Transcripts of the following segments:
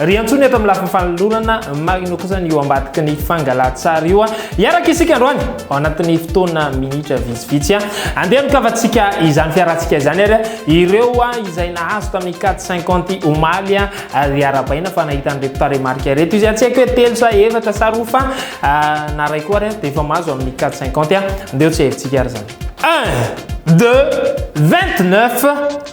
Ry Antsoina eto amin'ny lafiny fanolorana marina kosa ny eo ambadiky ny fangalan-tsary io. Hiaraka isika androany ao anatin'ny fotoana minitra vitsivitsy. Andeha mikavatsika izany fiarantsika izany ary ireo izay nahazo tamin'ny 450 omaly ary arabaina fa nahita an'ireto tarehimarika ireto izy. Tsy haiko hoe telo sa efatra sa roa fa na ray koa ary dia efa mahazo amin'ny 450. Andeha ho tseherintsika ary izany. 1, 2, 29.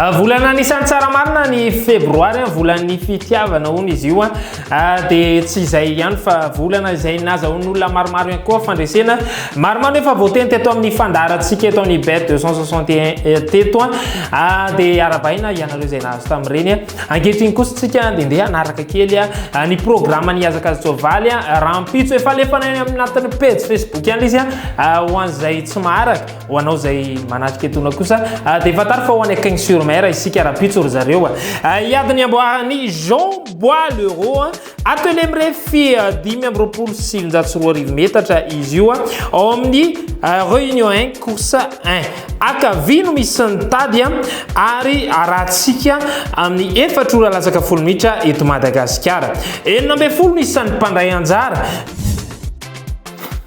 Ah, volana anisan'ny tsara marina ny febroary ah, volan'ny fitiavana hono izy io ah. dia tsy izay ihany fa volana izay nazahoan'olona maromaro ihany koa fandresena maromaro efa voateny teto amin'ny fandaharantsika eto amin'ny bet 261 eh, teto dia arabaina ianareo izay nahazo tamin'ireny ankehitriny kosa tsika dia ndeha hanaraka kely ny programme ny azakazy tsoavaly rahampitso efa lefana any amin'ny anatin'ny pejy facebook ihany izy ho an'izay tsy maharaka Ho anao izay manatrika etona kosa dia fantaro fa ho any Cagnes sur Mer isika rahampitso ry zareo. Hiady ny amboaran'i Jean Bois le Roi. Atelier mirefy dimy amby roapolo sy sivinjato sy roa arivo metatra izy io ao amin'ny Réunion 1 course 1. Akavia no misy ny tady ary arahantsika amin'ny efatra ora latsaka folo minitra eto Madagasikara. Enina ambin'ny folo no isan'ny mpandray anjara.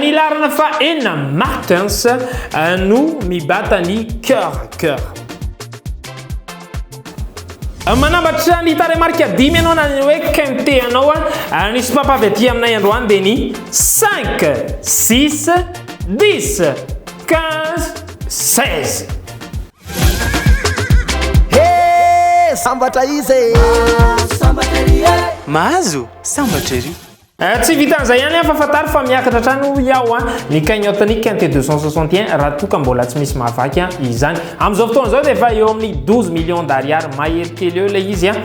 Ny laharana faha enina Martins no mibata ny cœur cœur. Manambatra ny tarehimarika dimy ianao na ny hoe quinte anao a. Ny sopapa avy aty aminay androany dia ny 5, 6, 10, 15, 16. Hey! Sambatra izy e! Mahazo sambatra ery. Tsy vitan'izay ihany an, fa fantaro fa miakatra hatrany hoy aho an, ny cagnotte ny quinte 261 raha toa ka mbola tsy misy mahavaky an izany. Amin'izao fotoana izao dia efa eo amin'ny 12 millions d'ariary mahery kely eo ilay izy an.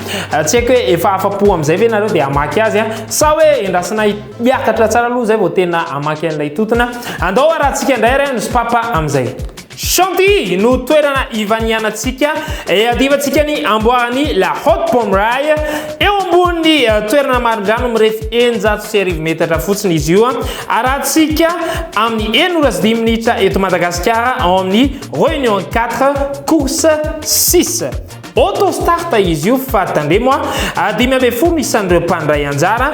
Tsy haiko hoe efa afa-po amin'izay ve nareo dia hamaky azy an, sa hoe endrasina hiakatra tsara aloha izay vao tena hamaky an'ilay tontona. Andao harahantsika indray ary an, ny sopapa amin'izay. Chantilly no toerana ivanianantsika, iadivantsika ny amboaran'i La Haute Pommeraye. Eo ambonin'ny eh, toerana marindrano mirefy eninjato sy arivo metatra fotsiny izy io. Arahantsika amin'ny enina ora sy dimy minitra eto Madagasikara ao amin'ny Réunion 4, Course 6. Auto start izy io fa tandremo ah, dimy ambin'ny folo isan'ireo mpandray anjara.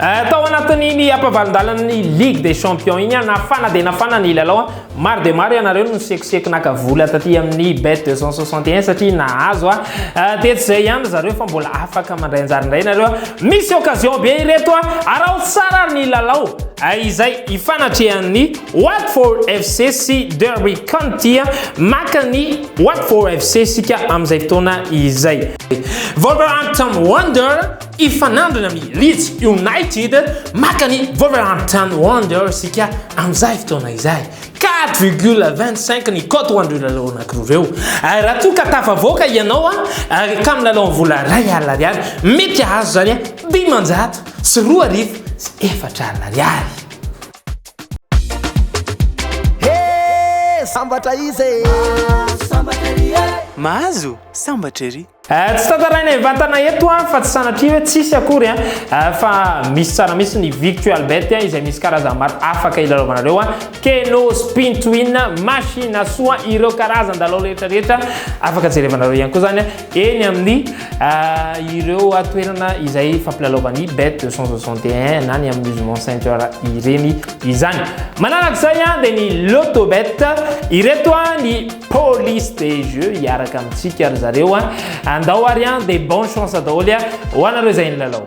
Eh, tao anatin'iny ampavalin-dalan'ny Ligue des Champions iny, nafana dia nafana ny lalao. Maro dia maro ianareo no nisekoseko naka vola taty amin'ny bet 261 satria nahazo. Eh, dia tsy izay ihany zareo fa mbola afaka mandray anjara indray ianareo. Misy occasion be ireto, araho tsara ary ny lalao. Eh, izay ifanatrehan'ny Watford FC sy Derby County maka ny Watford FC sika amin'izay fotoana izay. Wolverhampton Wonder Hifanandrina amin'ny Leeds United maka ny Wolverhampton Wanderers isika amin'izay fotoana izay. Quatre virgule vingt cinq ny cote ho an'ireo lalao anankiroa ireo. Ary raha toa ka tafavoaka ianao ary hatramin'ny lalao amin'ny vola iray alina ariary, mety hahazo izany dimanjato sy roa arivo sy efatra alina ariary. Hee! Sambatra iza e? Mahazo sambatra ery. Eh, tsy tantaraina hivantana eto an, fa tsy sanatria hoe tsisy akory an, eh, fa misy tsara misy ny virtual bet an, izay misy karazana maro afaka ilalovanareo an, keno, spin to win, machine soa, ireo karazan dalao rehetra rehetra afaka jerevanareo ihany koa zany an, eny amin'ny eh, ireo toerana izay fampilalaovan'ny bet 261 na ny amin'ny Usement Center ireny izany. Manaraka izay an, dia ny Lotto Bet, ireto an ny Police de jeux hiaraka amintsika ry zareo a. Andao ary an, dia bon chance daholo a, ho anareo izay nilalao.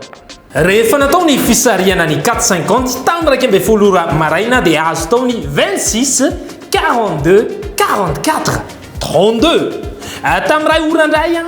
Rehefa natao ny fisarihana ny 450 tamin'ny iraika ambin'ny folo ora maraina dia azo tao ny 26, 42, 44, 32. Tamin'ny iray ora indray an!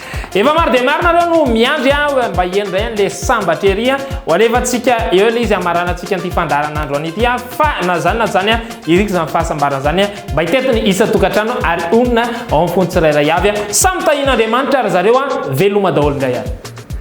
Efa maro dia maro nareo no miandry aho eh, mba hieno indray an'le sambatra ery a. Ho alefantsika eo ilay izy hamaranantsika an'ity fandaharanandro an'ity a. Fa na izany na izany a, iriko izany fahasambarana izany a, mba hitety ny isan-tokantrano ary honina ao amin'ny fon'ny tsirairay avy a. Samy tahian'Andriamanitra ry zareo a, veloma daholo indray ary.